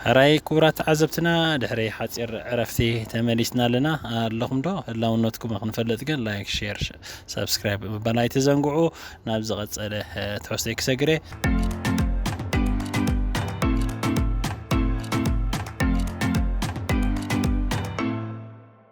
ሕራይ ክቡራት ተዓዘብትና ድሕሪ ሓጺር ዕረፍቲ ተመሊስና ኣለና ኣለኹም ዶ ህላውነትኩም ክንፈልጥ ግን ላይክ ሼር ሰብስክራይብ ምባል ኣይትዘንግዑ ናብ ዝቐጸለ ትሕዝቶይ ክሰግረ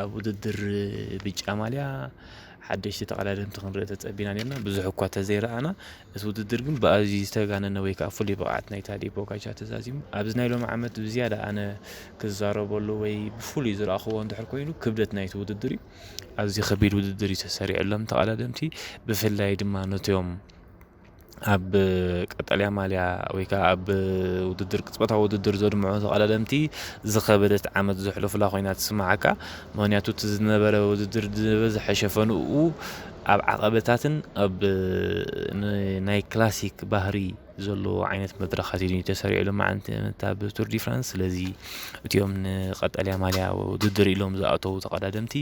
ኣብ ውድድር ብጫ ማልያ ሓደሽቲ ተቐዳደምቲ ክንርኢ ተጸቢና ኔርና፣ ብዙሕ እኳ ተዘይረኣና፣ እቲ ውድድር ግን ብኣዝዩ ዝተጋነነ ወይ ከኣ ፍሉይ ብቕዓት ናይ ታድዮ ፖጋቻር ተዛዚሙ። ኣብዚ ናይ ሎሚ ዓመት ብዝያዳ ኣነ ክዛረበሉ ወይ ብፍሉይ ዝረኣኹዎ እንድሕር ኮይኑ ክብደት ናይቲ ውድድር እዩ። ኣዝዩ ከቢድ ውድድር እዩ ተሰሪዕሎም ተቐዳደምቲ፣ ብፍላይ ድማ ነቶም ኣብ ቀጠልያ ማልያ ወይ ከኣ ኣብ ውድድር ቅጽበታዊ ውድድር ዘድምዑ ተቐዳደምቲ ዝኸበደት ዓመት ዘሕለፉላ ኮይና ትስምዓካ። ምክንያቱ እቲ ዝነበረ ውድድር ዝበዝሐ ሸፈንኡ ኣብ ዓቐበታትን ኣብ ናይ ክላሲክ ባህሪ ዘለዎ ዓይነት መድረኻት እዩ ተሰሪዑ ሎምዓንቲ እታ ብቱር ዲ ፍራንስ ስለዚ እቲኦም ንቀጠልያ ማልያ ውድድር ኢሎም ዝኣተው ተቐዳደምቲ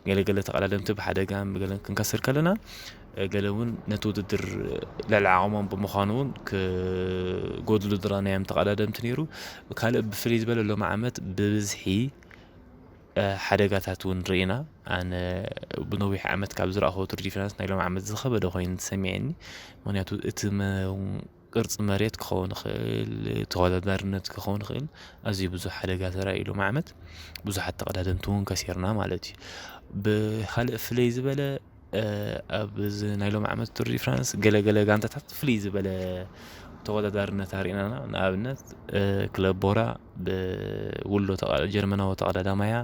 ገለገለ ተቐዳደምቲ ብሓደጋ ገለን ክንከስር ከለና ገለ ውን ነቲ ውድድር ልዕሊ ዓቕሞም ብምዃኑ ውን ክጎድሉ ዝራናዮም ተቐዳደምቲ ነይሩ። ካልእ ብፍልይ ዝበለ ሎሚ ዓመት ብብዝሒ ሓደጋታት ውን ርኢና ኣነ ብነዊሕ ዓመት ካብ ዝረኣኹዎ ቱር ዲፍራንስ ናይ ሎሚ ዓመት ዝኸበደ ኮይኑ ተሰሚዕኒ ምክንያቱ እቲ ቅርጺ መሬት ክኸውን ይኽእል፣ ተወዳዳርነት ክኸውን ይኽእል፣ ኣዝዩ ብዙሕ ሓደጋ ተራእዩ ሎሚ ዓመት፣ ብዙሓት ተቐዳደምቲ እውን ከሲርና ማለት እዩ። ብኻልእ ፍለይ ዝበለ ኣብዚ ናይ ሎሚ ዓመት ቱር ዲ ፍራንስ ገለገለ ጋንታታት ፍልይ ዝበለ ተወዳዳርነት ኣርእናና ንኣብነት ክለብ ቦራ ብውሎ ጀርመናዊ ተቐዳዳማያ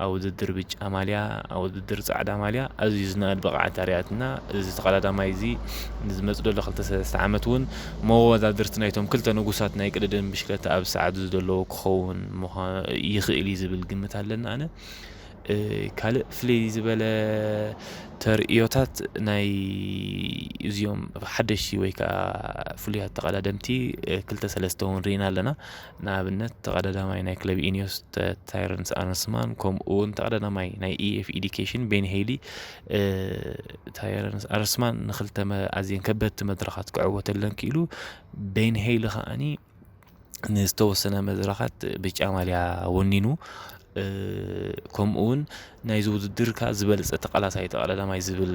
ኣብ ውድድር ብጫ ማልያ ኣብ ውድድር ጻዕዳ ማልያ ኣዝዩ ዝነኣድ ብቕዓት ኣርያትና። እዚ ተቐዳዳማይ እዚ ንዝመጽእ ዘሎ ክልተ ሰለስተ ዓመት እውን መወዳድርቲ ናይቶም ክልተ ንጉሳት ናይ ቅድድም ብሽክለታ ኣብ ሰዓቱ ዝደለዎ ክኸውን ይኽእል እዩ ዝብል ግምት ኣለኒ ኣነ። ካልእ ፍልይ ዝበለ ተርእዮታት ናይ እዚኦም ሓደሽቲ ወይ ከዓ ፍሉያት ተቐዳደምቲ ክልተ ሰለስተ እውን ርኢና ኣለና። ንኣብነት ተቐዳዳማይ ናይ ክለብ ኢኒዮስ ታይረንስ ኣርንስማን ከምኡ እውን ተቐዳዳማይ ናይ ኢኤፍ ኢዲኬሽን ቤን ሄሊ ታይረንስ ኣርንስማን ንክልተ ኣዝየን ከበድቲ መድረኻት ክዕወተለን ክኢሉ ቤን ሄሊ ከዓኒ ንዝተወሰነ መድረኻት ብጫ ማልያ ወኒኑ ከምኡውን ናይዚ ውድድር ከኣ ዝበለጸ ተቃላሳይ ተቀዳዳማይ ዝብል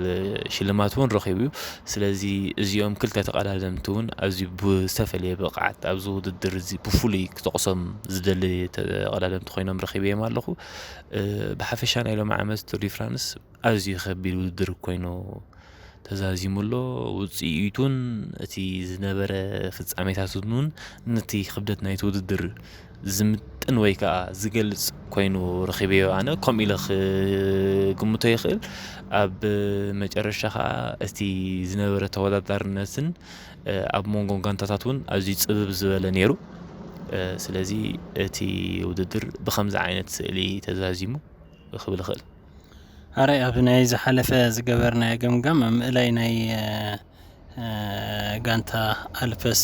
ሽልማት እውን ረኺቡ እዩ። ስለዚ እዚኦም ክልተ ተቀዳደምቲ እውን ኣዝዩ ብዝተፈለየ ብቅዓት ኣብዚ ውድድር እዚ ብፍሉይ ክጠቅሶም ዝደሊ ተቀዳደምቲ ኮይኖም ረኺበዮም ኣለኹ። ብሓፈሻ ናይ ሎሚ ዓመት ቱር ዲፍራንስ ኣዝዩ ከቢድ ውድድር ኮይኑ ተዛዚሙ'ሎ። ውጽኢቱን እቲ ዝነበረ ፍጻሜታትን'ውን ነቲ ክብደት ናይቲ ውድድር ዝምጥን ወይ ከኣ ዝገልጽ ኮይኑ ረኺበዮ ኣነ ከምኡ ኢለ ክግምቶ ይኽእል። ኣብ መጨረሻ ከኣ እቲ ዝነበረ ተወዳዳርነትን ኣብ መንጎ ጋንታታት እውን ኣዝዩ ጽብብ ዝበለ ነይሩ። ስለዚ እቲ ውድድር ብኸምዚ ዓይነት ስእሊ ተዛዚሙ ክብል ይኽእል። ኣረ ኣብ ናይ ዝሓለፈ ዝገበርናዮ ገምጋም ኣብ ምእላይ ናይ ጋንታ ኣልፐስ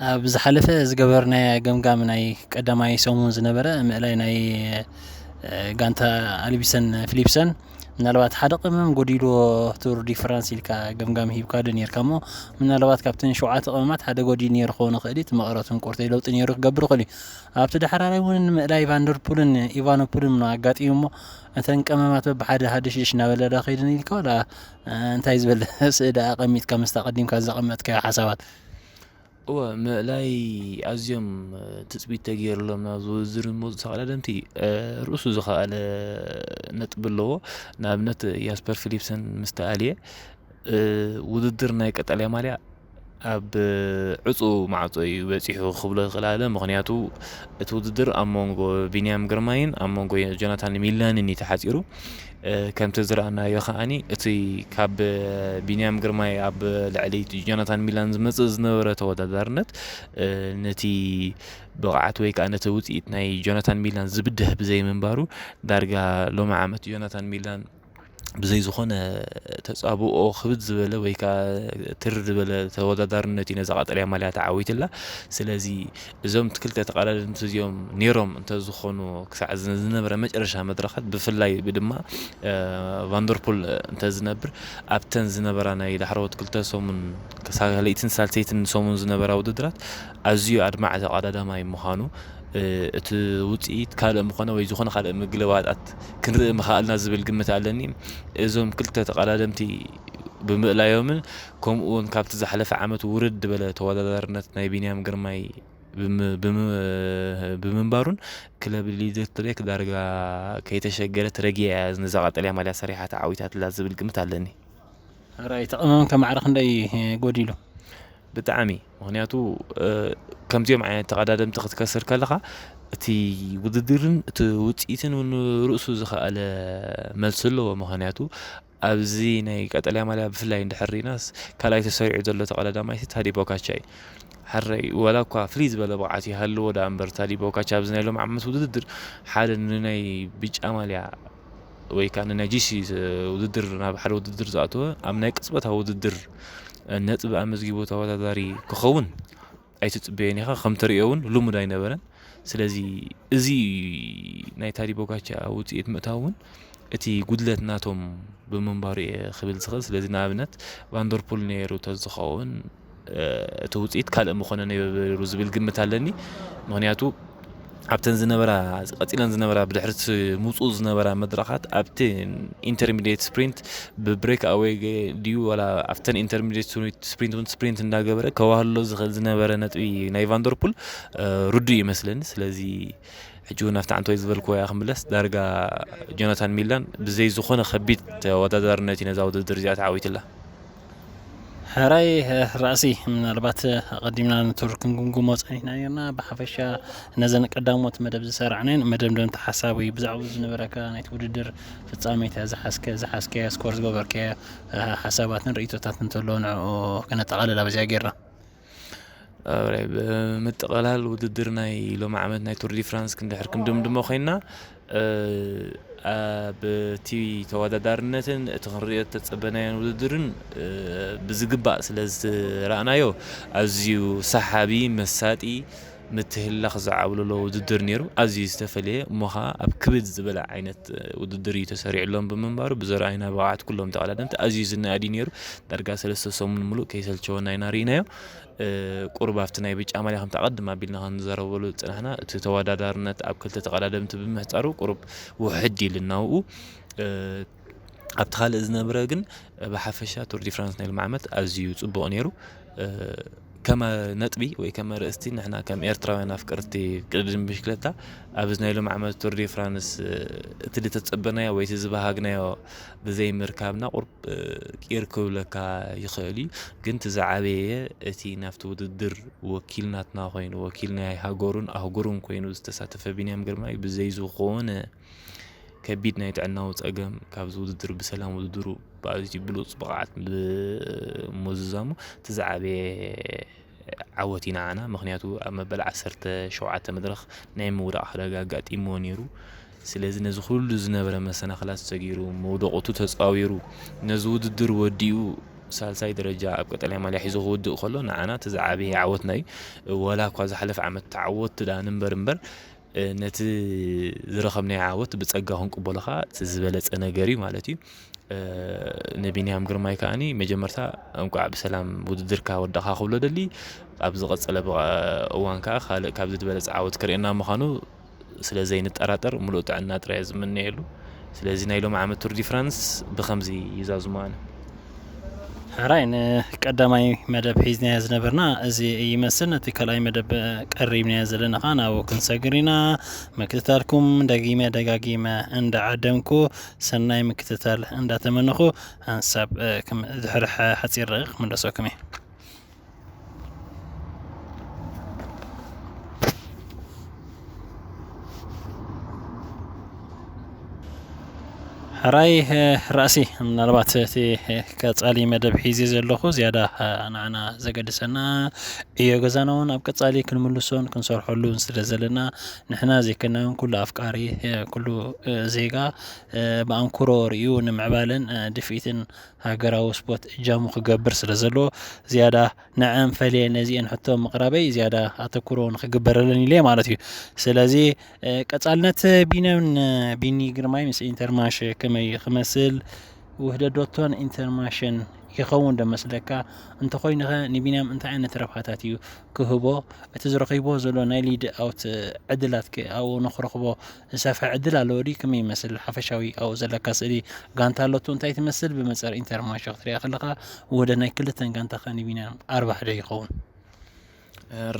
ኣብ ዝሓለፈ ዝገበርናዮ ገምጋም ናይ ቀዳማይ ሰሙን ዝነበረ ምእላይ ናይ ጋንታ ኣልቢሰን ፊሊፕሰን ምናልባት ሓደ ቅመም ጎዲልዎ ቱር ዲፈራንስ ኢልካ ገምጋም ሂብካ ዶ ኔርካ እሞ ምናልባት ካብተን ሸውዓተ ቅመማት ሓደ ጎዲል ኔሩ ክኸውን ይኽእል እዩ እቲ መቐረቱን ቁርተይ ለውጢ ኔሩ ክገብር ይኽእል እዩ ኣብቲ ዳሕራራይ እውን ምእላይ ቫንደርፑልን ኢቫኖፑልን ምኖ ኣጋጢሙ እሞ እተን ቅመማት በብሓደ ሃደሽደሽ እናበለዳ ከይደን ኢልካ ወላ እንታይ ዝበለ ስእዳ ኣቐሚጥካ ምስታ ቀዲምካ ዘቐመጥካዮ ሓሳባት እወ፣ ምእላይ ኣዝዮም ትጽቢት ተገይርሎም ናብዚ ውድድር ዝመጹ ተቐዳደምቲ ርእሱ ዝኸኣለ ነጥቢ ኣለዎ። ንኣብነት ያስፐር ፊሊፕሰን ምስ ተኣልየ ውድድር ናይ ቀጠልያ ማልያ ኣብ ዕፁ ማዕፆ እዩ በፂሑ ክብሎ ይኽእል ኣለ ምክንያቱ እቲ ውድድር ኣብ መንጎ ቢንያም ግርማይን ኣብ መንጎ ጆናታን ሚላንን እዩ ተሓፂሩ ከምቲ ዝረኣናዮ ከኣ እቲ ካብ ቢንያም ግርማይ ኣብ ልዕሊ ጆናታን ሚላን ዝመጽእ ዝነበረ ተወዳዳርነት ነቲ ብቕዓት ወይ ከዓ ነቲ ውፅኢት ናይ ጆናታን ሚላን ዝብድህ ብዘይምንባሩ ዳርጋ ሎሚ ዓመት ጆናታን ሚላን ብዘይ ዝኾነ ተፃብኦ ክብድ ዝበለ ወይ ከዓ ትር ዝበለ ተወዳዳርነት እዩ ነዛ ቀጠልያ ማልያ ተዓዊትላ ስለዚ እዞም ክልተ ተቓዳደምቲ እዚኦም ኔሮም እንተዝኾኑ ክሳዕ ዝነበረ መጨረሻ መድረኻት ብፍላይ ድማ ቫንደርፑል እንተዝነብር ኣብተን ዝነበራ ናይ ዳሕረዎት ክልተ ሰሙን ካልኣይትን ሳልሰይትን ሰሙን ዝነበራ ውድድራት ኣዝዩ ኣድማዒ ተቓዳዳማይ ምዃኑ እቲ ውፅኢት ካልእ ምኾነ ወይ ዝኾነ ካልእ ምግልባጣት ክንርኢ ምኸኣልና ዝብል ግምት ኣለኒ እዞም ክልተ ተቐዳደምቲ ብምእላዮምን ከምኡ ውን ካብቲ ዝሓለፈ ዓመት ውርድ ዝበለ ተወዳዳርነት ናይ ቢንያም ግርማይ ብምንባሩን ክለብ ሊድት ብሬክ ዳርጋ ከይተሸገረት ረጊኣ እያ ነዛ ቀጠልያ ማልያ ሰሪሓ ተዓዊታትላ ዝብል ግምት ኣለኒ ራይ ተቐመም ከማዕረ ክንደይ ጎዲሉ ብጣዕሚ ምክንያቱ ከምዚኦም ዓይነት ተቐዳደምቲ ክትከስር ከለኻ እቲ ውድድርን እቲ ውፅኢትን ውን ርእሱ ዝኸኣለ መልሲ ኣለዎ ምክንያቱ ኣብዚ ናይ ቀጠልያ ማልያ ብፍላይ እንድሕር ርኢናስ ካልኣይ ተሰሪዑ ዘሎ ተቐዳዳማይሲ ታዲ ፖካቻ እዩ። ሕራይ ዋላ እኳ ፍልይ ዝበለ ብቕዓት ይሃልዎ ደኣ እምበር ታዲ ፖካቻ ኣብዚ ናይ ሎሚ ዓመት ውድድር ሓደ ንናይ ብጫ ማልያ ወይ ከዓ ንናይ ጂሲ ውድድር ናብ ሓደ ውድድር ዝኣተወ ኣብ ናይ ቅጽበታዊ ውድድር ነጥቢ ኣመዝጊቡ ተወዳዳሪ ክኸውን ኣይትጽበዮን ኢኻ ከም ትርእዮ እውን ልሙድ ኣይነበረን ስለዚ እዚ ናይ ታዲ ቦጋቻ ውጽኢት ምእታው እውን እቲ ጉድለት ናቶም ብምንባሩ እየ ክብል ዝኽእል ስለዚ ንኣብነት ቫንደርፑል ነይሩ ተዝኸውን እቲ ውጽኢት ካልእ ምኾነ ነይሩ ዝብል ግምት ኣለኒ ምክንያቱ ኣብተን ዝነበራ ቀጺለን ዝነበራ ብድሕርቲ ምውጽኡ ዝነበራ መድረኻት ኣብቲ ኢንተርሚዲየት ስፕሪንት ብብሬክ ኣወይ ድዩ ወላ ኣብተን ኢንተርሚዲየት ስፕሪንት እውን ስፕሪንት እንዳገበረ ከዋህሎ ዝኽእል ዝነበረ ነጥቢ ናይ ቫንደርፑል ርዱ ይመስለኒ ስለዚ ሕጂ እውን ኣብቲ ዓንተወይ ዝበልክዎ እያ ክምለስ ዳርጋ ጆናታን ሚላን ብዘይ ዝኾነ ከቢድ ተወዳዳርነት እዩ ነዛ ውድድር እዚኣ ተዓዊትላ ሕራይ ራእሲ ምናልባት ኣቐዲምና ንቱር ክንግምግሞ ፀኒሕና ነርና ብሓፈሻ ነዘን ቀዳሞት መደብ ዝሰራዕነን መደምደምቲ ሓሳብ ወይ ብዛዕባ ዝነበረካ ናይቲ ውድድር ፍፃሜታ ዝሓዝከ ዝሓዝከያ ስኮር ዝገበርከያ ሓሳባትን ርእይቶታትን እንተሎ ንዕኡ ከነጠቓልል ኣብዚኣ ጌርና ብምጥቕላል ውድድር ናይ ሎሚ ዓመት ናይ ቱርዲ ፍራንስ ክንድሕር ክንድምድሞ ኮይና ኣብቲ ተወዳዳርነትን እቲ ክንሪኦ ተፀበናዮን ውድድርን ብዝግባእ ስለ ዝረኣናዮ ኣዝዩ ሰሓቢ መሳጢ ምትህልላኽ ዝዓብለሎ ውድድር ነይሩ። ኣዝዩ ዝተፈለየ እሞ ከኣ ኣብ ክብድ ዝበለ ዓይነት ውድድር እዩ ተሰሪዕሎም ብምንባሩ ብዘርኣዩና ብቕዓት ኩሎም ተቐዳደምቲ ኣዝዩ ዝነኣድ እዩ ነይሩ። ዳርጋ ሰለስተ ሰሙን ምሉእ ከይሰልቸወና ኢና ርኢናዮ። ቁሩብ ኣብቲ ናይ ብጫ ማልያ ከምቲ ኣቐድም ኣቢልና ክንዘረበሉ ዝጸናሕና እቲ ተወዳዳርነት ኣብ ክልተ ተቐዳደምቲ ብምሕጻሩ ቁሩብ ውሕድ ኢሉና ኣብኡ ኣብቲ ካልእ ዝነብረ ግን ብሓፈሻ ቱር ዲ ፍራንስ ናይ ሎሚ ዓመት ኣዝዩ ጽቡቕ ነይሩ ከመ ነጥቢ ወይ ከመ ርእስቲ ንሕና ከም ኤርትራውያን ኣፍቀርቲ ቅድድም ብሽክለታ ኣብዚ ናይ ሎም ዓመት ቱር ዲ ፍራንስ እቲ ዝተጸበናዮ ወይ እቲ ዝበሃግናዮ ብዘይ ምርካብና ቁርብ ቂር ክብለካ ይኽእል እዩ ግን እቲ ዝዓበየ እቲ ናብቲ ውድድር ወኪል ናትና ኮይኑ ወኪል ናይ ሃገሩን ኣህጉሩን ኮይኑ ዝተሳተፈ ቢንያም ግርማይ ብዘይ ዝኾነ ከቢድ ናይ ጥዕናዊ ጸገም ካብዚ ውድድር ብሰላም ውድድሩ ብኣዝዩ ብሉጽ ብቕዓት ብምምዝዛሙ እቲ ዝዓበየ ዓወት እዩ ንዓና ምክንያቱ ኣብ መበል ዓሰርተ ሸውዓተ መድረኽ ናይ ምውዳቕ ሓደጋ ኣጋጢምዎ ነይሩ። ስለዚ ነዚ ኩሉ ዝነበረ መሰናኽላት ሰጊሩ መውደቕቱ ተጻዊሩ ነዚ ውድድር ወዲኡ ሳልሳይ ደረጃ ኣብ ቀጠልያ ማልያ ሒዙ ክውድእ ከሎ ንዓና እቲ ዝዓበየ ዓወትና እዩ። ወላ እኳ ዝሓለፈ ዓመት ተዓወትቲ ደኣ ንንበር እምበር ነቲ ዝረኸብናዮ ዓወት ብጸጋ ክንቅበሎ ከኣ እቲ ዝበለጸ ነገር እዩ ማለት እዩ ንቢንያም ግርማይ ከዓኒ መጀመርታ እንቋዕ ብሰላም ውድድርካ ወዳእካ ክብሎ ደሊ ኣብ ዝቐጸለ እዋን ከዓ ካልእ ካብዚ ዝበለጸ ዓወት ክርእየና ምዃኑ ስለ ዘይንጠራጠር ሙሉእ ጥዕና ጥራይ ዝምነየሉ ስለዚ ናይ ሎም ዓመት ቱርዲ ፍራንስ ብከምዚ ይዛዝሙ ኣነ ሕራይ ንቀዳማይ መደብ ሒዝናዮ ዝነበርና እዚ ይመስል ነቲ ካልኣይ መደብ ቀሪብናዮ ዘለና ከዓ ናብኡ ክንሰግር ኢና ምክትታልኩም ደጊመ ደጋጊመ እንዳዓደምኩ ሰናይ ምክትታል እንዳተመነኹ ሃንሳብ ድሕሪ ሓፂር ደቂቅ ክምለሰኩም እየ ሕራይ ራእሲ ምናልባት እቲ ቀጻሊ መደብ ሒዜ ዘለኹ ዝያዳ ንዓና ዘገድሰና ዕዮ ገዛና እውን ኣብ ቀጻሊ ክንምልሶን ክንሰርሐሉን ስለ ዘለና ንሕና ዘይከና እውን ኩሉ ኣፍቃሪ ኩሉ ዜጋ ብኣንክሮ ርእዩ ንምዕባለን ድፍኢትን ሃገራዊ ስፖት እጃሙ ክገብር ስለ ዘለዎ ዝያዳ ንዐን ፈልየ ነዚኤን ሕቶ ምቕራበይ ዝያዳ ኣተኩሮ ንክግበረለን ኢለ ማለት እዩ። ስለዚ ቀጻልነት ቢንያምን ቢኒ ግርማይ ምስ ኢንተርማሽ ከመይ ክመስል ውህደዶቶን ኢንተርማሽን ይኸውን ዶ መስለካ? እንተኾይኑኸ ንቢንያም እንታይ ዓይነት ረብሓታት እዩ ክህቦ? እቲ ዝረኺቦ ዘሎ ናይ ሊድ ኣውት ዕድላትከ ኣብኡ ንክረኽቦ ዝሰፍሐ ዕድል ኣለዎ ድዩ? ከመይ ይመስል ሓፈሻዊ ኣብኡ ዘለካ ስእሊ? ጋንታ ኣሎቶ እንታይ ትመስል? ብመጸር ኢንተር ማንሸ ክትሪኣ ከለኻ ውህደት ናይ ክልተን ጋንታኻ ንቢንያም ኣርባሕ ዶ ይኸውን?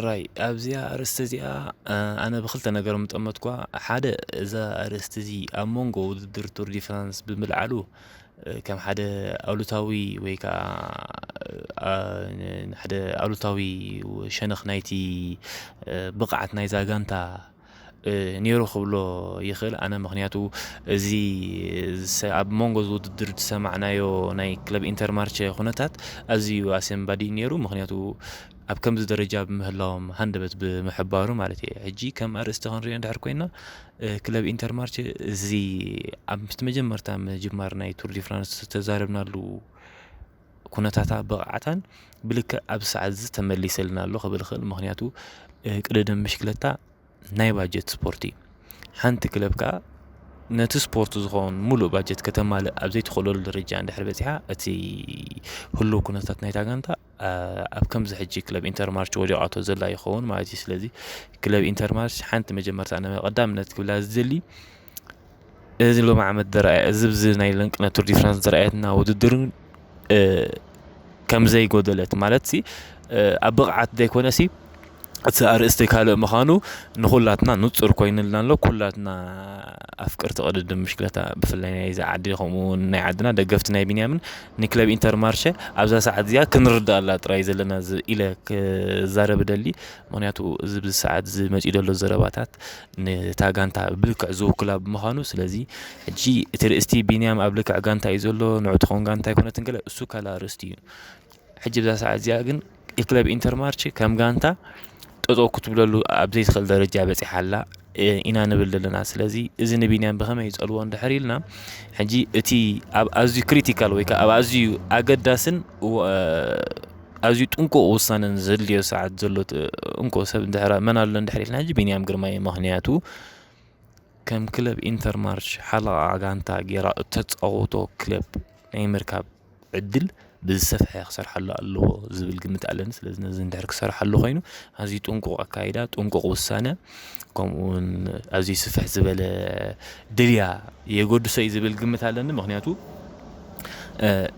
ራይ ኣብዚኣ ኣርእስቲ እዚኣ ኣነ ብክልተ ነገር ምጠመትኳ ሓደ እዛ ኣርእስቲ እዚ ኣብ መንጎ ውድድር ቱር ዲ ፍራንስ ብምልዓሉ ከም ሓደ ኣሉታዊ ወይ ከዓ ሓደ ኣሉታዊ ሸነኽ ናይቲ ብቕዓት ናይዛ ጋንታ ኔሩ ክብሎ ይኽእል ኣነ ምኽንያቱ እዚ ኣብ መንጎ እዚ ውድድር ዝሰማዕናዮ ናይ ክለብ ኢንተርማርቸ ኩነታት ኣዝዩ ኣሰንባዲ ኔሩ ምኽንያቱ ኣብ ከምዚ ደረጃ ብምህላዎም ሃንደበት ብምሕባሩ ማለት እየ ሕጂ ከም ኣርእስቲ ክንሪኦ እንድሕር ኮይና ክለብ ኢንተርማርቸ እዚ ኣብ ምስቲ መጀመርታ ምጅማር ናይ ቱር ዲ ፍራንስ ዝተዛረብናሉ ኩነታታ ብቕዓታን ብልክዕ ኣብዚ ሰዓት እዚ ተመሊሰልና ኣሎ ክብል ይኽእል። ምክንያቱ ቅድድም ብሽክለታ ናይ ባጀት ስፖርት እዩ። ሓንቲ ክለብ ከዓ ነቲ ስፖርት ዝኸውን ሙሉእ ባጀት ከተማልእ ኣብ ዘይትኽእለሉ ደረጃ እንድሕር በፂሓ እቲ ህሉው ኩነታት ናይታ ጋንታ ኣብ ከምዚ ሕጂ ክለብ ኢንተር ማርች ወዲቓቶ ዘላ ይኸውን ማለት እዩ። ስለዚ ክለብ ኢንተር ማርች ሓንቲ መጀመርታ ቀዳምነት ክብላ ዝደሊ እዚ ሎሚ ዓመት ዝረኣ እዚ ኣብዚ ናይ ለንቅነ ቱር ዲ ፍራንስ ዘርኣየትና ውድድር ከም ዘይጎደለት ማለትሲ ኣብ ብቕዓት ዘይኮነሲ እቲ ኣርእስቲ ካልእ ምዃኑ ንኹላትና ንፁር ኮይኑልና ኣሎ ኩላትና ኣፍቀርቲ ቅድድም ብሽክለታ ብፍላይ ናይዚ ዓዲ ከምኡ ውን ናይ ዓድና ደገፍቲ ናይ ቢንያምን ንክለብ ኢንተር ማርሸ ኣብዛ ሰዓት እዚኣ ክንርድኣላ ጥራይ ዘለና ኢለ ክዛረብ እደሊ ምኽንያቱ እዚ ብዚ ሰዓት እዚ መፂኡ ዘሎ ዘረባታት ንታ ጋንታ ብልክዕ ዝውክላ ብምዃኑ ስለዚ ሕጂ እቲ ርእስቲ ቢንያም ኣብ ልክዕ ጋንታ እዩ ዘሎ ንዑ ትኸውን ጋንታ ኣይኮነትን ገለ እሱ ካልእ ኣርእስቲ እዩ ሕጂ ብዛ ሰዓት እዚኣ ግን ክለብ ኢንተር ማርች ከም ጋንታ ጠጠው ክትብለሉ ኣብ ዘይትኽእል ደረጃ በጺሓ ኣላ ኢና ንብል ዘለና ስለዚ እዚ ንቢንያም ብኸመይ ይጸልዎ እንድሕር ኢልና ሕጂ እቲ ኣብ ኣዝዩ ክሪቲካል ወይ ከዓ ኣብ ኣዝዩ ኣገዳስን ኣዝዩ ጥንቁቕ ውሳነን ዘድልዮ ሰዓት ዘሎ እንኮ ሰብ እንድሕራ መን ኣሎ እንድሕር ኢልና ሕጂ ቢንያም ግርማይ እዩ ምክንያቱ ከም ክለብ ኢንተርማርች ሓለቓ ጋንታ ጌራ እተጻወቶ ክለብ ናይ ምርካብ ዕድል ብዝሰፍሐ ክሰርሓሉ ኣለዎ ዝብል ግምት ኣለኒ ስለዚ ነዚ እንድሕር ክሰርሓሉ ኮይኑ ኣዝዩ ጥንቁቕ ኣካይዳ ጥንቁቕ ውሳነ ከምኡ ውን ኣዝዩ ስፍሕ ዝበለ ድልያ የገድሶ እዩ ዝብል ግምት ኣለኒ ምክንያቱ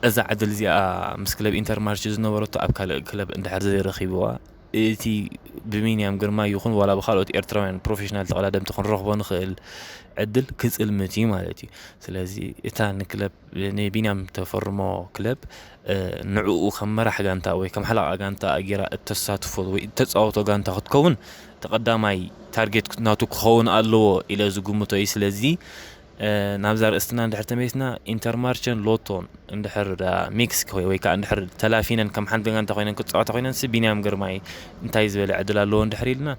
እዛ ዕድል እዚኣ ምስ ክለብ ኢንተር ማርች ዝነበረቶ ኣብ ካልእ ክለብ እንድሕር ዘይረኺብዋ እቲ ብሚንያም ግርማ ይኹን ዋላ ብካልኦት ኤርትራውያን ፕሮፌሽናል ተቐዳደምቲ ክንረኽቦ ንኽእል ዕድል ክፅልምት እዩ ማለት እዩ ስለዚ እታ ንክለብ ንቢንያም ተፈርሞ ክለብ ንዕኡ ከም መራሕ ጋንታ ወይ ከም ሓለቓ ጋንታ ጌራ እተሳትፎ ወይ እተጻወቶ ጋንታ ክትከውን እቲ ቀዳማይ ታርጌት ናቱ ክኸውን ኣለዎ ኢለ ዝግምቶ እዩ። ስለዚ ናብዛ ርእስትና እንድሕር ተመሊስና ኢንተርማርቸን ሎቶን እንድሕር ሚክስ ኮይ ወይ ከዓ እንድሕር ተላፊነን ከም ሓንቲ ጋንታ ኮይነን ክጻወታ ኮይነንሲ ቢንያም ግርማይ እንታይ ዝበለ ዕድል ኣለዎ እንድሕር ኢልና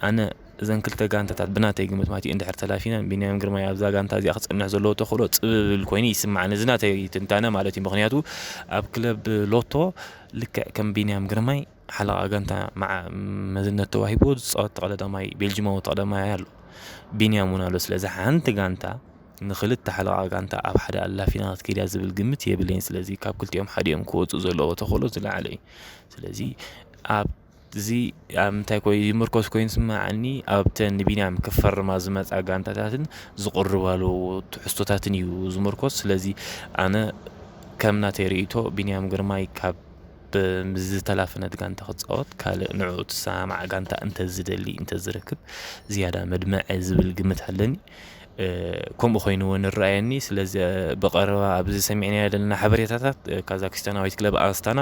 ኣነ እዘን ክልተ ጋንታታት ብናተይ ግምት ማለት እዩ እንድሕር ተላፊነን ቢንያም ግርማይ ኣብዛ ጋንታ እዚኣ ክፀንሕ ዘለዎ ተኽእሎ ፅብብል ኮይኑ ይስማዓኒ እዚ ናተይ ትንታነ ማለት እዩ ምክንያቱ ኣብ ክለብ ሎቶ ልክዕ ከም ቢንያም ግርማይ ሓለቓ ጋንታ መዓ መዝነት ተዋሂቦ ዝፃወት ተቐዳዳማይ ቤልጅማዊ ተቐዳማይ ኣሎ ቢንያም እውን ኣሎ ስለዚ ሓንቲ ጋንታ ንክልተ ሓለቓ ጋንታ ኣብ ሓደ ኣላፊና ክትከይድ እያ ዝብል ግምት የብለይን ስለዚ ካብ ክልቲኦም ሓዲኦም ክወፁ ዘለዎ ተኽእሎ ዝለዓለ እዩ ስለዚ ኣብ እዚ ኣብ ምንታይ ኮይ ዝምርኮስ ኮይኑ ዝስመዓኒ ኣብተን ንቢንያም ክፈርማ ዝመጻ ጋንታታትን ዝቕርባሉ ትሕዝቶታትን እዩ ዝምርኮስ። ስለዚ ኣነ ከም ናተይ ርእይቶ ቢንያም ግርማይ ካብ ምስ ዝተላፈነት ጋንታ ክጻወት ካልእ ንዕኡ ትሰማማዕ ጋንታ እንተዝደሊ እንተዝረክብ ዝያዳ መድመዐ ዝብል ግምት ኣለኒ። ከምኡ ኮይኑ'ውን ይረኣየኒ። ስለዚ ብቐረባ ኣብዚ ሰሚዕናዮ ዘለና ሓበሬታታት ካዛክስታናዊት ክለብ ኣስታና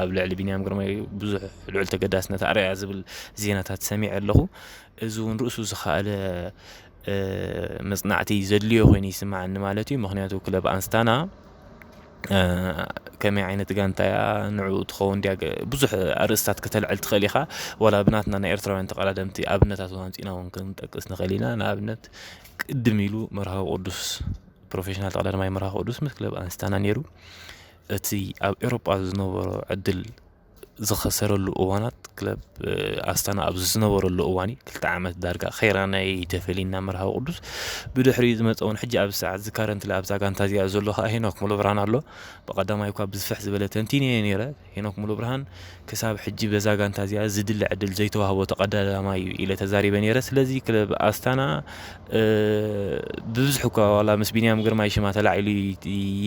ኣብ ልዕሊ ቢንያም ግርማይ ብዙሕ ልዑል ተገዳስነት ኣርእያ ዝብል ዜናታት ሰሚዐ ኣለኹ። እዚ እውን ርእሱ ዝኸኣለ መጽናዕቲ ዘድልዮ ኮይኑ ይስምዓኒ ማለት እዩ። ምክንያቱ ክለብ ኣንስታና ከመይ ዓይነት ጋንታ እያ ንዕኡ ትኸውን ድያ ብዙሕ ኣርእስታት ከተልዕል ትኽእል ኢኻ ዋላ ብናትና ናይ ኤርትራውያን ተቐዳደምቲ ኣብነታት እውን ኣምፂእና እውን ክንጠቅስ ንኽእል ኢና ንኣብነት ቅድም ኢሉ መርሃዊ ቅዱስ ፕሮፌሽናል ተቐዳዳማይ መርሃዊ ቅዱስ ምስ ክለብ ኣንስታና ነይሩ እቲ ኣብ ኤውሮጳ ዝነበሮ ዕድል ዝኸሰረሉ እዋናት ክለብ ኣስታና ኣብ ዝነበረሉ እዋን እዩ ክልተ ዓመት ዳርጋ ከይራናይ ተፈሊና መርሃዊ ቅዱስ ብድሕሪ ዝመፀውን ሕጂ ኣብዚ ሰዓት እዚ ካረንትሊ ኣብዛ ጋንታ እዚኣ ዘሎ ከዓ ሄኖክ ሙሉ ብርሃን ኣሎ ብቐዳማይ እኳ ብዝፍሕ ዝበለ ተንቲነ እየ ነይረ ሄኖክ ሙሉ ብርሃን ክሳብ ሕጂ በዛ ጋንታ እዚኣ ዝድለ ዕድል ዘይተዋህቦ ተቐዳዳማይ እዩ ኢለ ተዛሪበ ነይረ ስለዚ ክለብ ኣስታና ብብዝሒ እኳ ዋላ ምስ ቢንያም ግርማይ ሽማ ተላዒሉ